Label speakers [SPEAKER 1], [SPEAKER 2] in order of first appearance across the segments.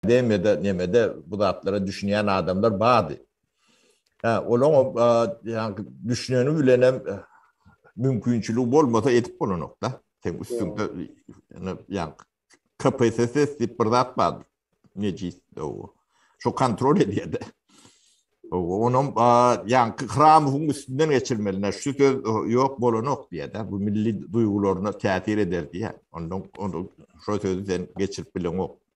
[SPEAKER 1] BM-de, neme-de bu zatlara düşünýän adamlar bardy. Hä, olaň o ýaňky düşüneni bilenem mümkinçiligi bolmasa edip bolanok-da. Sen üstünde ýaňky KPSS diýip bir zat bardy. Nejis o. Şu kontrol edýärdi. Onuň ýaňky Hramowyň üstünden geçirmelini, şu söz ýok bolanok diýýärdi. Bu milli duýgularyna täsir eder diýýär. Ondan onu şu sözi sen geçirip bileňok.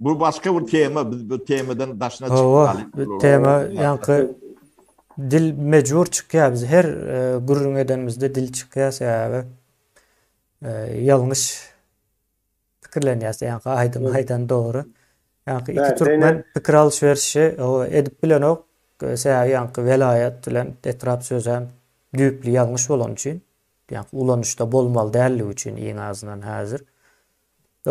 [SPEAKER 1] Bu başga bir tema, biz bu temadan daşyna çykmaly. Hawa, bu tema ýaňky
[SPEAKER 2] dil mejbur çykýar. Biz her e, gürrüň edenimizde dil çykýar sebäbi e, ýalňyş pikirlenýär. Ýaňky aýdym aýdan dogry. Ýaňky iki türkmen pikir alşyberişi edip bilenok. E, sebäbi ýaňky welaýat bilen etrap sözi hem düýpli ýalňyş bolany üçin, ýaňky ulanyşda bolmaly däldigi üçin iň azyndan häzir. E,